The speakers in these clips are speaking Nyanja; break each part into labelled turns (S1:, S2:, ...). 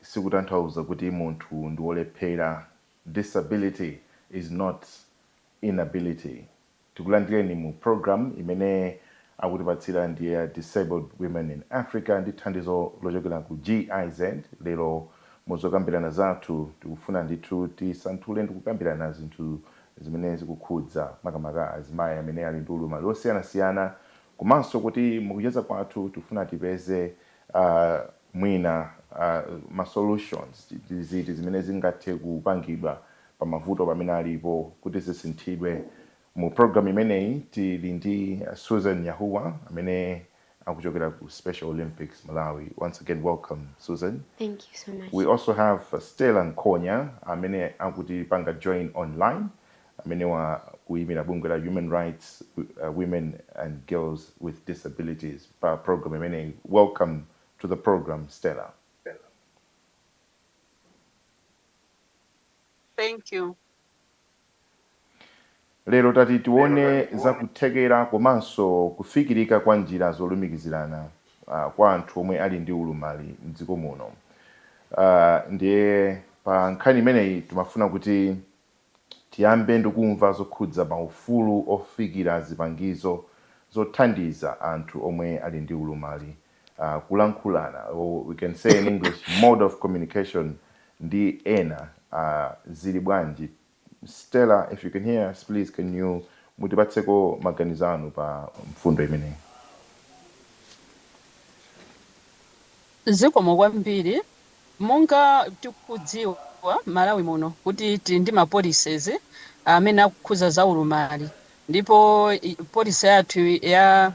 S1: sikutanthauza kuti munthu ndi wolephera, disability is not inability. Tikulandireni mu program imene akutipatsira ndi a Disabled Women in Africa ndi thandizo lochokera ku GIZ. Lero mu zokambirana zathu tikufuna ndithu tisanthule ndi kukambirana zinthu zimene zikukhudza makamaka azimayi amene ali ndi ulumali wosiyanasiyana komanso kuti mukucheza kwathu tifuna tipeze ah, mwina ma solutions ndi ziti zimene zingathe kupangidwa pa mavuto pamene alipo kuti zisinthidwe. Mu program imeneyi tili ndi Susan Nyahuwa amene akuchokera ku Special Olympics Malawi, once again welcome Susan. Thank you so much. We
S2: also have Stella
S1: Nkonya amene akutipanga join online Amenewa akuimira bungwe la Human Rights, Women and Girls with Disabilities pa program imeneyi. Welcome to the program Stella.
S3: Thank you.
S1: Lero tati tione za kuthekera komanso kufikirika kwa njira zolumikizirana ah, kwa anthu omwe ali ndi ulumali mdziko muno. Ah, ndiye pa nkhani imeneyi timafuna kuti Tiyambe ndikumva zokhudza maufulu ofikira zipangizo zothandiza anthu omwe ali ndi ulumali, kulankhulana or we can say in English mode of communication ndi ena zili bwanji Stella if you can hear us please can you mutipatseko maganizo anu pa mfundo imeneyi.
S3: Zikomo kwambiri. Monga tikudziwa Malawi muno kuti tili ndi ma policies amene akukhuza za ulumali ndipo policy yathu ya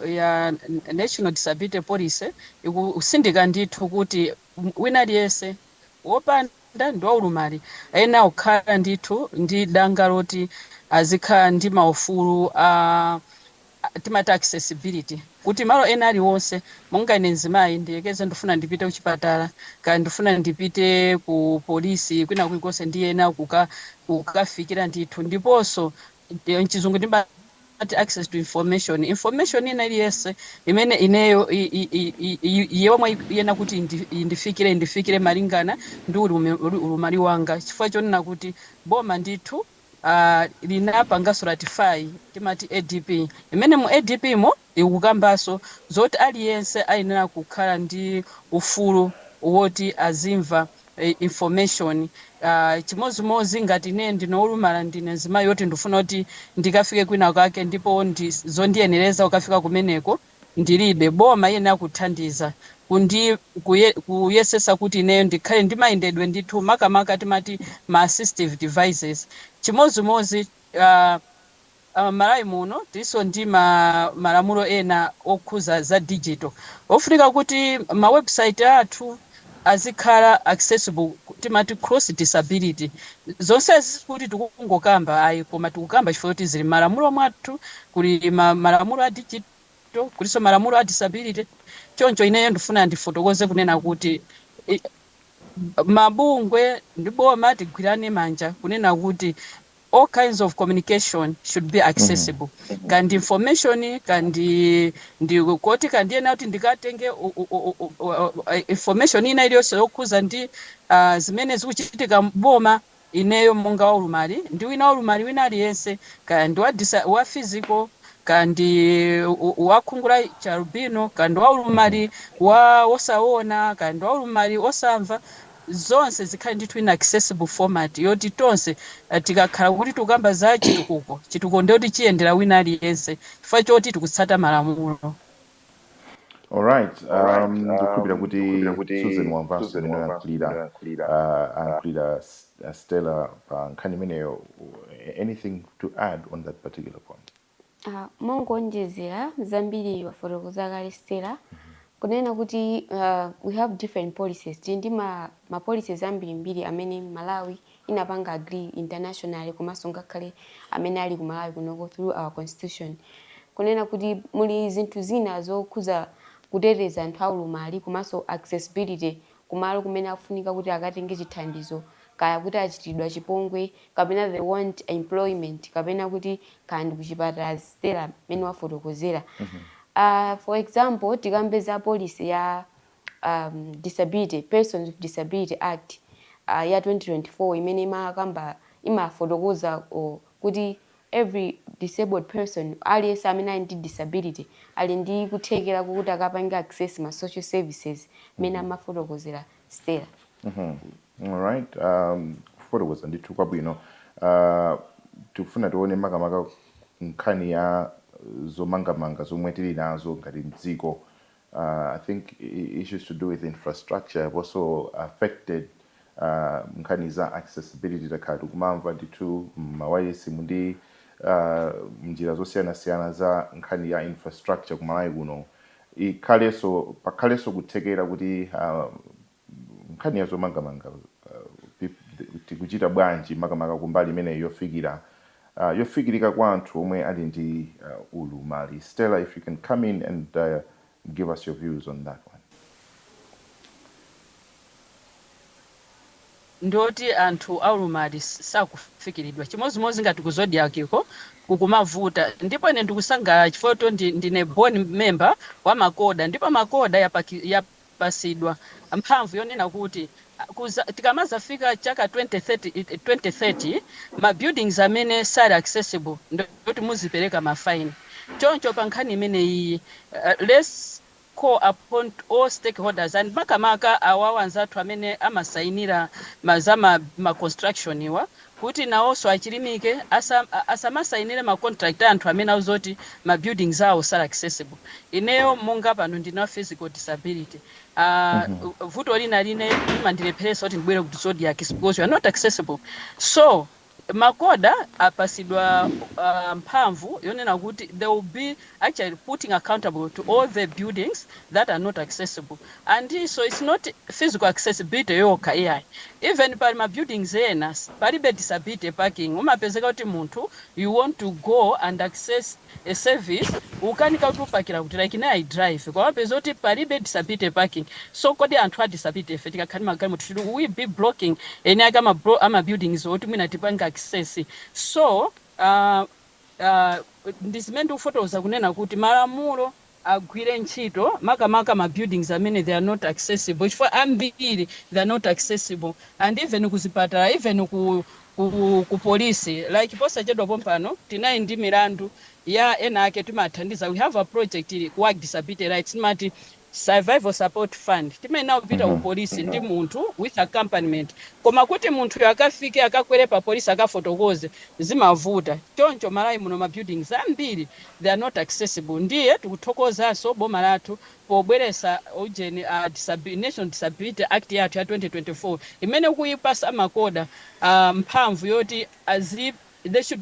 S3: ya National Disability Policy ikusindika ndithu kuti wina aliyense wopanda ndi waulumali ayenera kukhala ndithu ndi danga loti azikhala ndi maufulu a timati accessibility kuti malo ena aliwonse monga ine mzimayi ndiyekeze ndifuna ndipite kuchipatala kaya ndifuna ndipite ku polisi kwina kulikonse ndiyenera kukafikira ndithu ndiponso mchizungu ndimati access to information information ina iliyonse imene ineyo yomwe iyenera kuti indi, indifikire indifikire malingana ndi ulumali wanga chifukwa chonena kuti boma ndithu aah linapangaso ratify timati adp imene mu adp mo ikukambaso zoti aliyense ayenera kukhala ndi ufulu woti azimva information aah chimozimozi ngati ine ndine wolumala ndine mzimayi woti ndifuna kuti ndikafike kwina kake ndipo ndi zondiyenereza kukafika kumeneko ndilibe. Boma iyenera kuthandiza kuyesesa kuti ineyo ndikhale ndi mayendedwe ndithu makamaka timati ma assistive devices. Chimodzimodzi a a Malawi muno tilinso ndi malamulo ena okhuza za digital ofunika kuti ma website athu, azikhala accessible timati cross disability zonsezi sikuti tikungokamba ayi koma tikukamba chifukwa choti zili mmalamulo mwathu kuli malamulo a digital kulinso malamulo a disability choncho ineyo ndifuna ndifotokoze kunena kuti i- mabungwe ndi boma tigwirane manja kunena kuti all kinds of communication should be accessible kaya ndi information kaya ndi ku khoti kaya ndiyenera kuti ndikatenge u- u- u- u- u- uh, information ina iliyonse yokhuza ndi ah, zimene zikuchitika mboma ineyo monga waulumali ndi wina waulumali wina aliyense kaya ndi wa disa- wa physical kaya ndi u- u- wakhungu la chialubino kaya ndi waulumali wa wosaona kaya ndi waulumali wosamva zonse zikhale ndithu in accessible format yoti tonse tikakhala kuti tikukamba za chitukuko, chitukuko ndiye kuti chiyendera wina aliyense chifukwa choti tikutsata malamulo.
S1: Alright, um, ndikukhulupira kuti Susan wamvanso mmene wayankhulira uh, ayankhulira S- uh, Stella pa nkhani imeneyo. Anything to add on that particular point? Uh, mongonjezera
S2: zambiri wafotokoza kale Stella kunena kuti uh, we have different policies tili ndi ma, ma policies ambirimbiri amene Malawi inapanga agree internationally komanso ngakhale amene ali ku Malawi kunoko through our constitution kunena kuti muli zinthu zina zokhuza kuteteza anthu aulumali komanso accessibility kumalo kumene akufunika kuti akatenge chithandizo, kaya kuti achitiridwa chipongwe, kapena they want employment, kapena kuti kaya ndi kuchipatala as Stella mmene wafotokozera. aah For example, tikambe za policy ya aah disability, Persons with Disability Act ya 2024 imene imakamba, imafotokoza kuti every disabled person, aliyense amene ali ndi disability ali ndi kuthekera kokuti akapange access ma social services mmene amafotokozera Stella. Alright,
S1: um, kufotokoza ndithu kwabwino. Uh, tikufuna tione makamaka nkhani ya zomangamanga zomwe tili nazo ngati mdziko uh, I think issues to do with infrastructure have also affected uh, nkhani za accessibility takhala tikumamva ndithu mmawayilesi mundi uh, mnjira zosiyanasiyana za nkhani ya infrastructure kumalawi kuno ikhalenso pakhalenso kuthekera kuti uh, nkhani ya zomangamanga tikuchita bwanji makamaka kumbali imeneyi yofikira yofikirika kwa anthu omwe ali ndi ulumali stella if you can come in and give us your views on that one.
S3: ndioti anthu aulumali sakufikiridwa chimodzimodzi ngati ku zodiak ko kukumavuta ndipo ine ndikusangalala chifukwa choti ndi, ndine board member wa MACODA ndipo MACODA yapaki, yap, patsidwa mphamvu yonena kuti kudza tikamadzafika chaka 2030 ma buildings amene sali accessible ndioti muzipereka ma fine choncho pa nkhani imeneyiyi let's call upon all stakeholders and makamaka awawa anzathu amene amasayinira ma za ma construction wa kuti nawonso achilimike asa asamasainile ma contract a anthu amene akuzoti ma buildings awo sali accessible ineyo monga pano ndili ndi physical disability aah vuto lina limene limandilepheletsa kuti ndibwele ku zodiak is because you're not accessible so MACODA apatsidwa aah mphamvu yonena kuti they will be actually putting accountable to all the buildings that are not accessible and so it's not physical accessibility yokha iyayi even pali ma buildings ena palibe disability parking umapezeka kuti munthu you want to go and access a service ukanika kuti upakira kuti like ine i drive koma umapeza kuti palibe disability parking so kodi anthu a disability ife tikakhala ndi magalimoto should we be blocking eni ake ama, blo- ama buildings oti mwina tipange access so uh, ndi zimene ndikufotokoza kunena kuti malamulo agwire ntchito makamaka ma buildings amene they are not accessible chifukwa ambiri they are not accessible and even ku zipatala even ku ku, ku polisi like posachedwa pompano tinali ndi milandu ya ena ake timathandiza we have a project ili ku WAG disability rights timati survivor support fund timayenera kupita ku police ndi munthu with accompaniment koma kuti munthuyo akafike akakwere pa police akafotokoze zimavuta choncho Malawi muno ma buildings ambiri they are not accessible ndiye tikuthokozanso boma lathu pobweretsa ujeni a disabi national disability act yathu ya 2024 imene ikuyipatsa MACODA uh, mphamvu yoti azi they should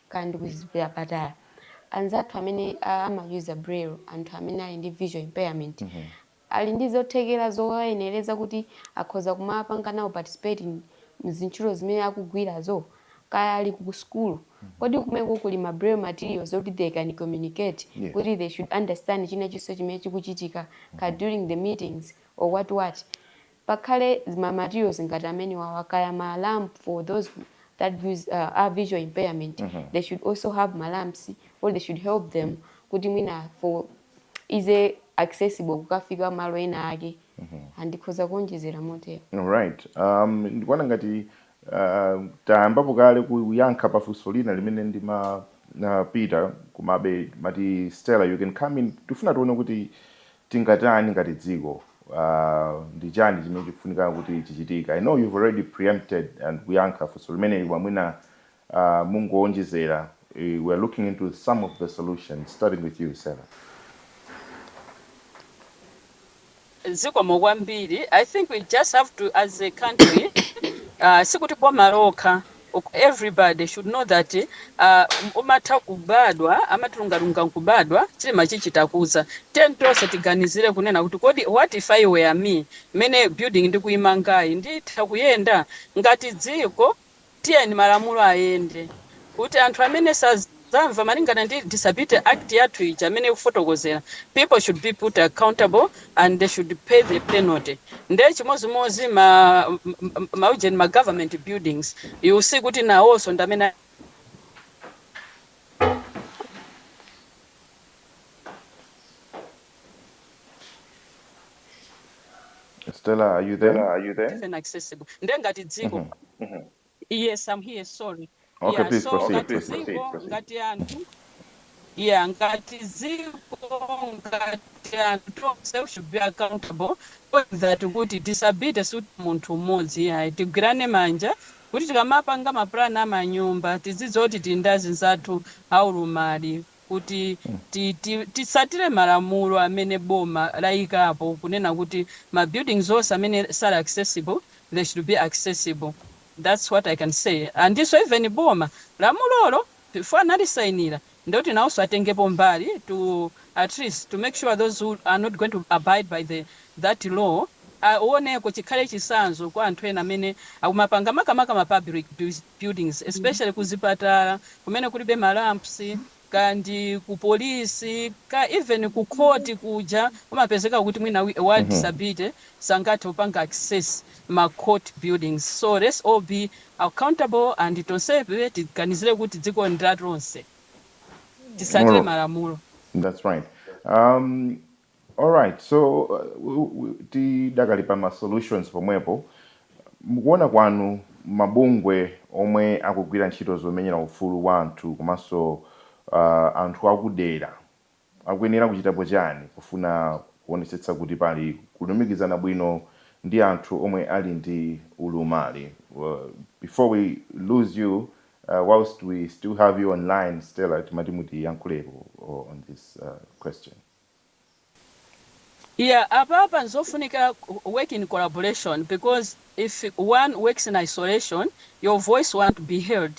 S2: kaya ndi kuchipatala anzathu amene amayuza braille anthu amene ali ndi visual impairment ali ndi zothekera zowayenereza kuti akhoza kumapanga nawo participate mzintchito zimene akugwirazo? Kaya ali ku sukulu kodi kumeko kuli ma braille materials oti they can communicate Yes. kuti they should understand china chilichonse chimene chikuchitika kaya during the meetings or what what? Pakhale ma materials ngati amenewawa kaya ma ramp for those who have a visual impairment they should also have ma ramps or they should help them kuti mwina for easy accessible kukafika malo ena ake and ndikhoza kuonjezera motero. Alright,
S1: um, ndikuona ngati uh, tayambapo kale kuyankha pa funso lina limene ndima uh, Peter komabe Auntie Stella you can come in tifuna tione kuti tingatani ngati dziko uh, ndi chani chimene chikufunika kuti chichitike i know you've already preempted and kuyankha funso limeneli koma mwina uh, mungowonjezera eh, we are looking into some of the solutions starting with you Stella.
S3: zikomo kwambiri i think we just have to as a country uh, sikuti boma lokha ok everybody should know that uh umatha kubadwa amati lungalunga nkubadwa chilema chichita kudza tiyeni tonse tiganizire kunena kuti kodi what if it were me mmene building ndikuimangayi nditha kuyenda ngati dziko tiyeni malamulo ayende kuti anthu amene saz Amva malingana ndi disability act yathu ija mmene ikufotokozera people should be put accountable and they should pay the penalty nde chimozimozi ma ma ujeni ma government buildings you will see kuti nawonso ndamene
S1: Stella, are you there? even accessible
S3: nde ngati dziko Mhm. Yes, I'm here. Sorry. Okay, yeah, please so proceed. Okay, please proceed,
S1: proceed. Ngati
S3: anthu yeah, ngati dziko ngati anthu onse should be accountable for that kuti disability sikuti munthu mmodzi yayi tigwirane manja kuti tikamapanga mapulani amanyumba tizidziwa kuti tili ndi anzathu aulumali kuti ti ti titsatire malamulo amene boma layikapo kunena kuti ma buildings onse amene sali accessible they should be accessible that's what I can say andinso even boma lamulolo before analisayinira ndiloti nawonso atengepo mbali to atleast to make sure those who are not going to abide by the that law awoneke chikhale chitsanzo kwa anthu ena amene akumapanga makamaka ma public buil buildings especially ku zipatala kumene kulibe ma ramps kaya ndi ku police kaya even ku court kuja kumapezeka kuti mwina wi- wa disability sangathe kupanga access ma court buildings so let's all be accountable and tonsefe tiganizire kuti dziko ndi la tonse titsatire Alright. malamulo That's right.
S1: Um, Alright, so uh, tidakali pa ma solutions pomwepo, mukuona kwanu mabungwe omwe akugwira ntchito zomenyera ufulu wa anthu komanso uh, anthu akudera akuyenera kuchitapo chani kufuna kuonetsetsa kuti pali kulumikizana bwino ndi anthu omwe ali ndi ulumali? Uh, before we lose you uh, whilst we still have you online Stella, timati mutiyankhulepo uh, on this uh, question.
S3: Yeah apapa nzofunika work in collaboration because if one works in isolation your voice wont be heard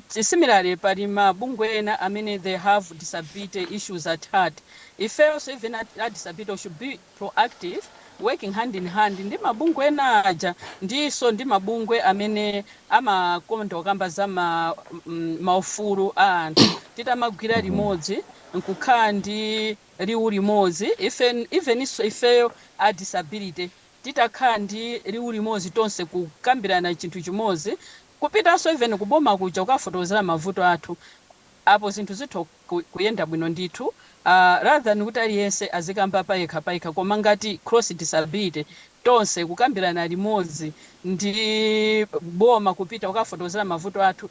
S3: similarly pali ma bungwe ena amene they have disability issues at heart ifeyonso even a disability we should be proactive working hand in hand ndi ma bungwe ena aja ndinso ndi ma bungwe amene amakonda kukamba za ma ufulu a anthu titamagwira limodzi nkukhala ndi liwu limodzi eveninso ifeyo a disability titakhala ndi liwu limodzi tonse kukambirana chinthu chimodzi kupitanso even kuboma kuja kukafotokozera mavuto athu apo zinthu zitha kuyenda bwino ndithu rather than kuti aliyense azikamba payekha payekha koma ngati cross disability tonse kukambirana limodzi ndi boma kupita kukafotokozera mavuto athu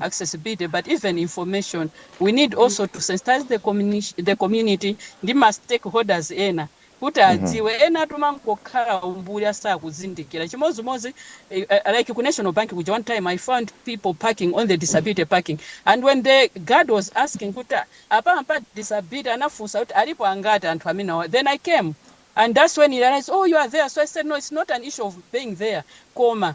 S3: accessibility but even information. We need also to sensitize the community ndi ma stakeholders ena kuti adziwe. Enatu amangokhala umbuli asakuzindikira. Chimodzimodzi eh, like ku National Bank kuja one time I found people parking on the disability parking and when the guard was asking kuti "Ah, apa mpa disability anafunsa kuti alipo angati anthu amenewa then I came and that's when he realized oh you are there so I said no it's not an issue of being there koma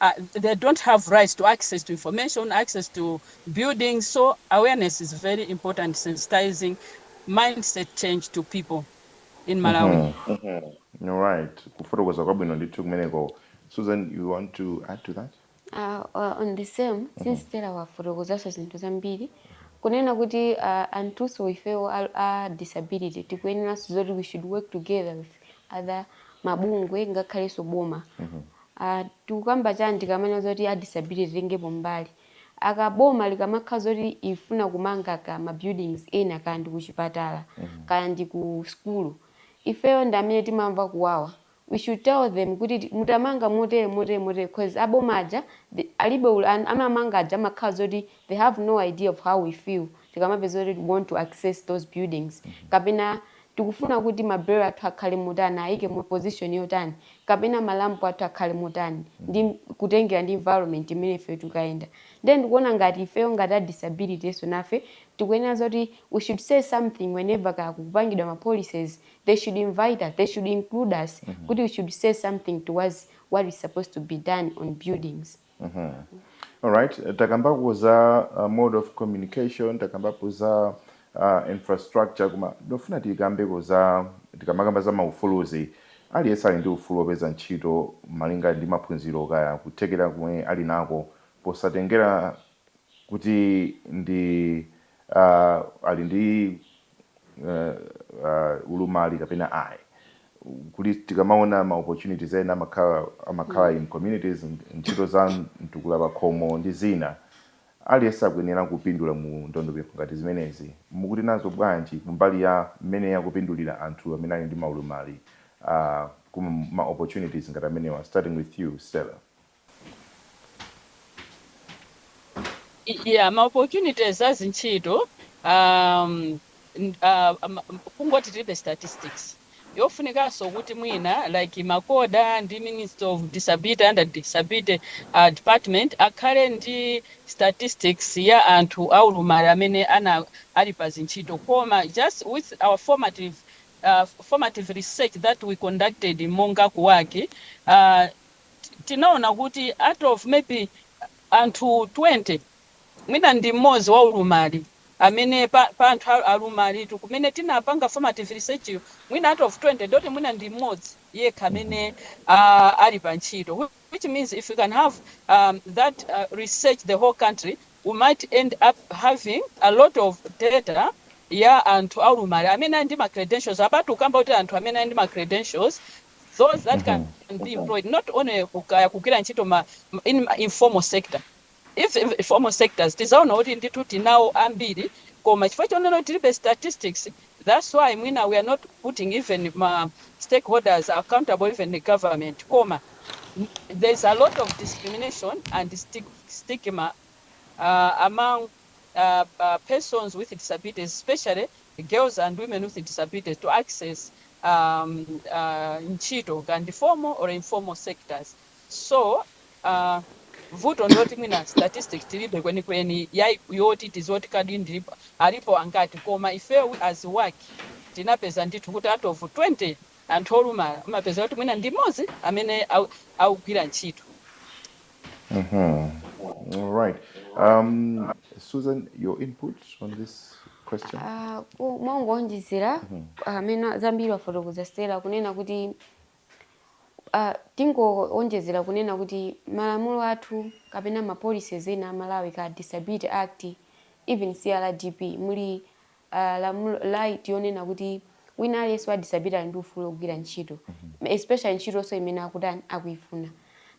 S3: a they don't have rights to access to information, access to buildings. So awareness is very important, sensitizing mindset change to people in Malawi. Mhm. Mhm. All
S1: right. Kufotokoza kwabwino ndithu kumeneko. Susan, you want to add to that? Uh, uh, on
S2: the same Mhm. since Stella wafotokozaso zinthu zambiri kunena kuti uh, anthuso ifewo a, a disability tikuyeneranso zoti we should work together with other mabungwe ngakhalenso boma Mhm. Aaa tikukamba chani tikamanena zoti a disability titengepo mbali aaa boma likamakhala zoti ifuna kumanga kaya ma buildings ena kaya ndi kuchipatala kaya ndi ku sukulu ifeyo ndi amene timamva kuwawa we should tell them kuti mutamanga motere motere motere coz a boma aja alibe ul an amamanga aja amakhala zoti they have no idea of how we feel tikamapeza zoti we want to access those buildings kapena tikufuna kuti ma bale athu akhale motani, ayike mu position yotani, kapena ma ramp athu akhale motani, ndi, kutengera ndi environment imene ifeyo tikukayenda. Ndiye ndikuona ngati ifeyo ngati a disability enso nafe tikuyenera zoti we should say something whenever kaya kukupangidwa ma policies, they should invite us, they should include us kuti we should say something towards what is supposed to be done on buildings. Mhm.
S1: Alright, eh, takambapo za uh, mode of communication, takambapo za uh, infrastructure koma ndofuna tikambeko za tikamakamba za maufuluzi aliyense ali ndi ufulu wopeza ntchito malinga ndi maphunziro kaya kuthekera kumene ali nako posatengera kuti ndi uh, ali ndi uh, ulumali kapena ayi kuti tikamaona ma opportunities ena amakhala amakhala in communities ntchito za mtukula pakhomo ndi zina aliyense akuyenera kupindula mu ndondomeko ngati zimenezi mukuti nazo bwanji kumbali ya mmene akupindulira anthu amene ali ndi maulumali uh, kuma ma opportunities ngati amenewa starting with you Stella
S3: Yeah, ma opportunities a zintchito um, n- ah, ma- kungoti tilibe statistics yofunikanso kuti mwina like MACODA ndi Ministry of disability under disability uh, department akhale ndi statistics ya anthu aulumali amene ana ali pa zintchito koma just with our formative uh, formative research that we conducted monga ku WAG uh, tinaona kuti out of maybe anthu 20 mwina ndi mmodzi waulumali amene pa pa anthu alumalitu kumene tinapanga formative research yo mwina out of 20 ndoti mwina ndi mmodzi yekha amene a ali pa ntchito which means if we can have um, that uh, research the whole country we might end up having a lot of data ya anthu aulumali amene ali ndi ma credentials apatu tikukamba kuti anthu amene ali ndi ma credentials those that can be employed not only ku- kaya kugwira ntchito ma, ma- in ma informal sector if if informal sectors tizaona kuti ndithu tinawo ambiri koma chifukwa chonena kuti tilibe statistics that's why mwina we are not putting even ma stakeholders accountable even the government koma there's a lot of discrimination and stig stigma uh, among uh, uh, persons with disabilities, especially girls and women with disabilities, to access ntchito kaya ndi formal or informal sectors so vuto ndiloti mwina statistics tilibe kwenikweni yai yoti tiziwe kuti kodi ndi alipo angati koma ifeyo as WAG tinapeza ndithu kuti out of 20 anthu olumala umapezeka kuti mwina ndi mmodzi amene akugwira ntchito
S1: Mm-hmm. All right. Um, Susan, your input on this question? Uh, ku- mwina
S2: kungowonjezera Mm-hmm. amene zambiri wafotokoza Stella kunena kuti uh, tingowonjezera kunena kuti malamulo athu kapena ma policies ena a Malawi kaya Disability Act even CRPD muli a lamulo right yonena kuti wina aliyense wa disability ali ndi ufulu wogwira ntchito especially ntchitonso imene akutani akuifuna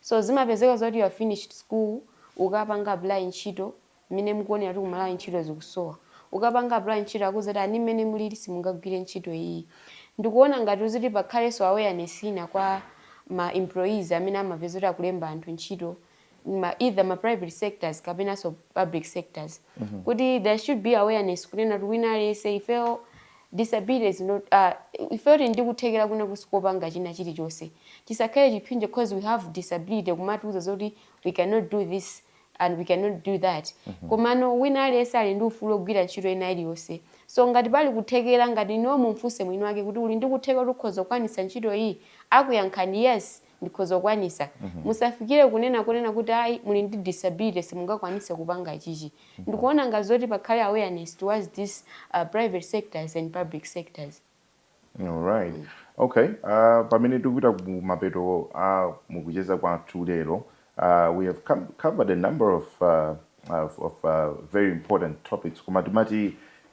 S2: so zimapezeka zoti you finished school ukapanga apply ntchito mmene mukuonera kuti ku malawi ntchito zikusowa ukapanga apply ntchito akuuza kuti ayi mmene mulili simungagwire ntchito iyi ndikuona ngati zoti pakhalenso awareness ina kwa ma employers amene amapeza kuti akulemba anthu ntchito ma either ma private sectors kapenanso public sectors kuti there should be awareness kunena kuti wina aliyense ifeyo disability is not uh, ifeyo tili ndi kuthekera kwina kusi kopanga china chilichonse chisakhale chiphinjo because we have disability kumatiuza zoti we cannot do this and we cannot do that komano wina aliyense ali ndi ufulu wogwira ntchito ina iliyonse so ngati pali kuthekera ngati n'iwo mumfunse mwini wake kuti uli ndi kuthekera kuti ukhoza kukwanitsa ntchito iyi akuyankhani yes ndikhoza kukwanisa. Musafikire kunena konena kuti ayi muli ndi disability simungakwanise kupanga ichichi. Ndikuona ngati zoti pakhale awareness towards this private sectors and public sectors.
S1: Alright, okay, pamene tikupita kumapeto a mukucheza kwathu lero, we have covered a number of of very important topics koma timati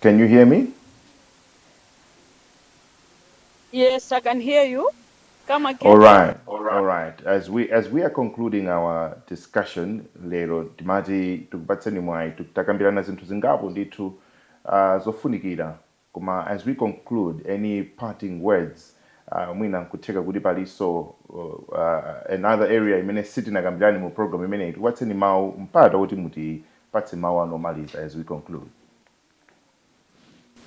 S1: Can you hear me?
S3: Yes, I can hear you. Come again. All right. All right. All
S1: right. As we as we are concluding our discussion lero timati tikupatseni mwayi tikambirana zinthu zingapo ndithu uh, zofunikira Koma as we conclude any parting words mwina nkutheka kuti palinso another area imene sitinakambirane mu program imeneyi tikupatseni mau mpata oti mutipatse mau anu omaliza as we
S3: conclude.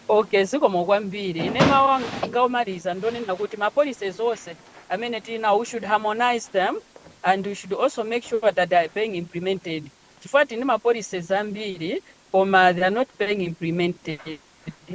S3: Ok zikomo kwambiri ine mau anga omaliza ndonena kuti ma policies onse amene tilinawo we should harmonise them and we should also make sure that they are being implemented. chifukwa tili ndi ma policies ambiri koma they are not being implemented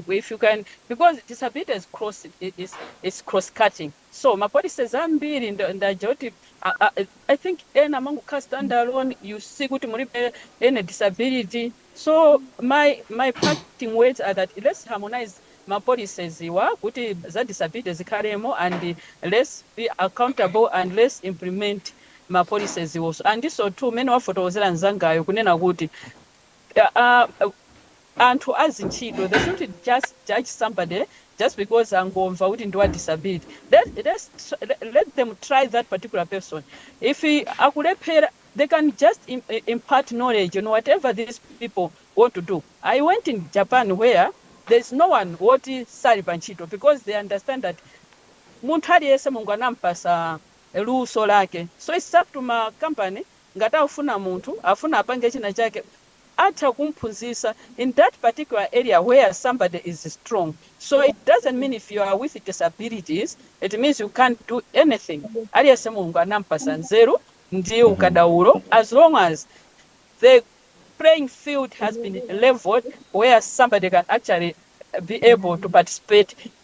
S3: if you can because disability is cross is, is cross cutting so ma policies ambiri nd- ndaja kuti I, I, i think ena amangokhala stand alone you see kuti mulibe any disability so my my parting words are that let's harmonize ma policies awa kuti za disability zikhalemo and let's be accountable and let's implement ma policieswo so and nso two mmene wafotokozera mnzangayo kunena kuti aah anthu azintchito they shouldn't just judge somebody just because angomva kuti ndi wa disability let let's let them try that particular person if akulephera they can just im impart knowledge on whatever these people want to do. I went in Japan where there is no one woti sali pa ntchito because they understand that munthu aliyense Mulungu anampatsa luso lake so its up to ma company ngati akufuna munthu akufuna apange china chake atha kumphunzisa in that particular area where somebody is strong so it doesn't mean if you are with disabilities it means you can't do anything aliyense Mulungu anampasa nzeru ndi ukadaulo as long as the playing field has been leveled where somebody can actually be able to participate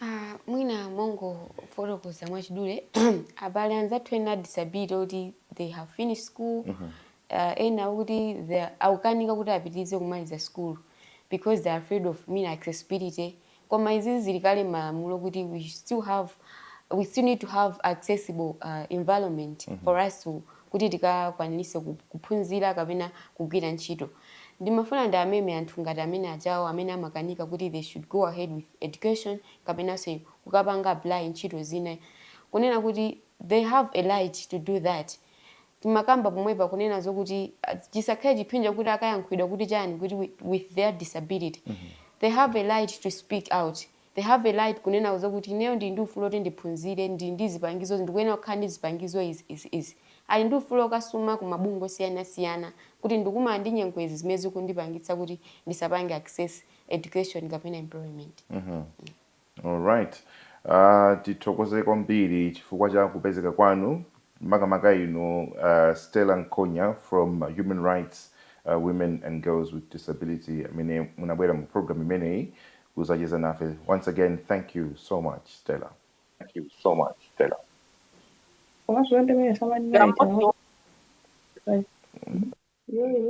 S1: Ah,
S2: mwina mongofotokoza mwachidule abale anzathu ena a disability kuti they have finished school mm -hmm. Uh, ena oti akukanika kuti apitirize kumaliza school because they are afraid of mean accessibility koma izizi zili kale malamulo kuti we still have we still need to have accessible uh, environment mm -hmm. for us to kuti tikakwanirise ku kuphunzira kapena kugwira ntchito. Ndimafuna ndiwameme anthu ngati amene ajawo amene amakanika kuti they should go ahead with education kapenanso kukapanga apply ntchito zina kunena kuti they have a right to do that. Timakamba pomwepa kunena zokuti chisakhale chiphinjo kuti akayankhulidwa kuti chani kuti with their disability they have a right to speak out. They have a right kunena zokuti ineyo ndili ndi ufulu oti ndiphunzire, ndili ndi zipangizozi, ndikuyenera kukhala ndi zipangizo izi, izi, izi. Ali ndi ufulu okasuma ku mabungwe osiyanasiyana kuti ndikukumana ndi nyengo izi zimene zikundipangitsa kuti ndisapange access education kapena employment.
S1: Mm-hmm. Alright. Uh, tithokoze kwambiri chifukwa cha kupezeka kwanu makamaka inu uh, Stella Nkonya from Human Rights uh, Women and Girls with Disability amene munabwera mu program imeneyi kuzacheza nafe once again thank you so much stella. Thank you so much stella.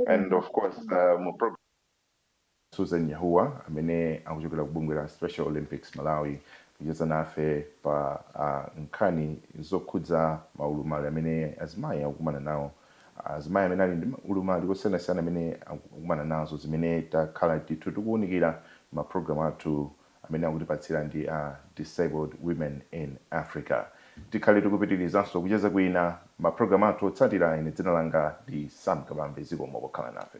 S1: and of course uh, susan Yahuwa amene akuchokera ku bungwe la special olympics malawi kucheza nafe pa uh, nkhani zokhudza maulumali amene azimayi akukumana nawo azimayi amene ali ndi ulumali osiyanasiyana amene akukumana nazo zimene takhala ndithu tikuwunikira ma program athu amene akutipatsira ndi a Disabled Women in Africa. Tikhale tikupitirizanso kucheza kwina ma program athu otsatira ine dzina langa ndi Sam Kabambe zikomo pokhala nafe.